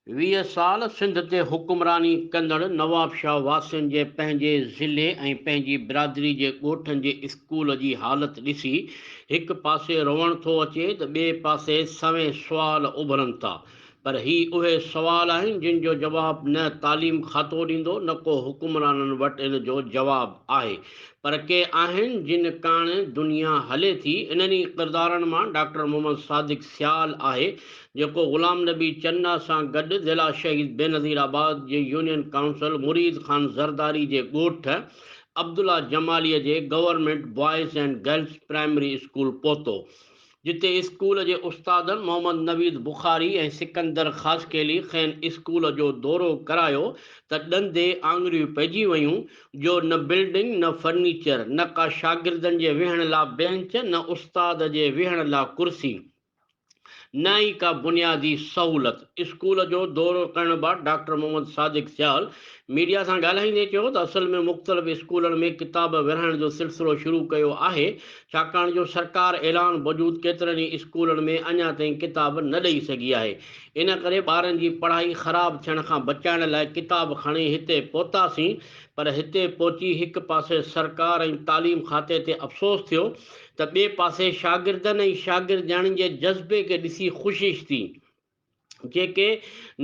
ويهه سال سنڌ تي حڪمراني ڪندڙ نوابشاهه واسين جي پنهنجي ضلعي ۽ پنهنجي برادري جي ڳوٺن جي اسڪول جي حالت ڏسي هڪ پاسي روئڻ ٿو اچي ته ٻئي پاسي سوين سوال اڀرن ٿا پر هي اهي سوال آهن جن جو جواب نه تعليم کاتو ڏيندو نه ڪو حڪمرانن وٽ ان جو جواب آهي پر ڪي آهن جن ڪاڻ دنيا هلي ٿي انهن ئي ڪردارن مان ڊاڪٽر محمد صادق سيال آهي جيڪو غلام نبي چنا سان گڏ ضلع شهيد بينظير آباد جي يونين ڪائونسل مريد خان زرداري جي ڳوٺ عبدالله جمالي جي government boys and girls primary school پهتو جتي اسڪول جي استادن محمد نويد بخاري ۽ سڪندر خاصخيلي کين اسڪول جو دورو ڪرايو ته ڏندي آڱريون پئجي ويون جو نه بلڊنگ نه فرنيچر نه ڪا شاگردن جي ويهڻ لا بينچ نه استاد جي ويهڻ لا ڪرسي نه ئي ڪا بنيادي سهولت اسڪول جو دورو ڪرڻ بعد ڊاڪٽر محمد صادق سيال ميڊيا سان ڳالهائيندي چيو ته اصل ۾ مختلف اسڪولن ۾ ڪتاب ورهائڻ جو سلسلو شروع ڪيو آهي ڇاڪاڻ جو سرڪار اعلان بوجود ڪيترن ئي اسڪولن ۾ اڃا تائين ڪتاب نه ڏئي سگهي آهي، ان ڪري ٻارن جي پڙهائي خراب ٿيڻ کان بچائڻ لاء ڪتاب کڻي هتي پهتاسين پر هتي پهچي هڪ پاسي سرڪار ۽ تعليم کاتي تي افسوس ٿيو ته ٻئي پاسي شاگردن ۽ شاگردياڻين جي جذبي کي ڏسي خوشش ٿي. جيڪي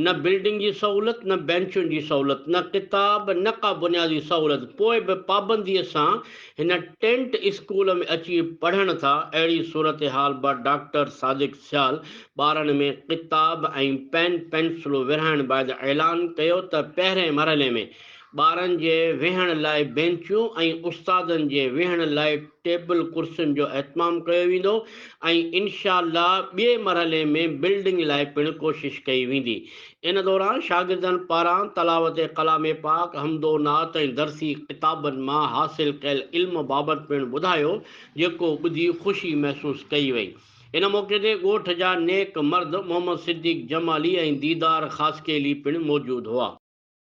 نه بلڊنگ جي سهولت، نه بئنچن جي سهولت، نه ڪتاب، نه ڪا بنيادي سهولت، پوء به پابنديء سان هن ٽينٽ اسڪول ۾ اچي پڙهن ٿا، اهڙي صورتحال با ڊاڪٽر صادق سيال ٻارن ۾ ڪتاب ۽ پين پينسلون ورهائڻ بعد اعلان ڪيو ته پهرئين مرحلي ۾ ٻارن جي ويهڻ لاء بينچون ۽ استادن جي ويهڻ لاء ٽيبل ڪرسين جو اهتمام ڪيو ويندو ۽ انشاء الله ٻئي مرحلي ۾ بلڊنگ لاء پڻ ڪوشش ڪئي ويندي ان دوران شاگردن پاران تلاوت ڪلام پاڪ حمد و نعت ۽ درسي ڪتابن مان حاصل ڪيل علم بابت پڻ ٻڌايو جيڪو ٻڌي خوشي محسوس ڪئي وئي ان موقعي تي ڳوٺ جا نيڪ مرد محمد صديق جمالي ۽ ديدار خاصخيلي پڻ موجود هئا.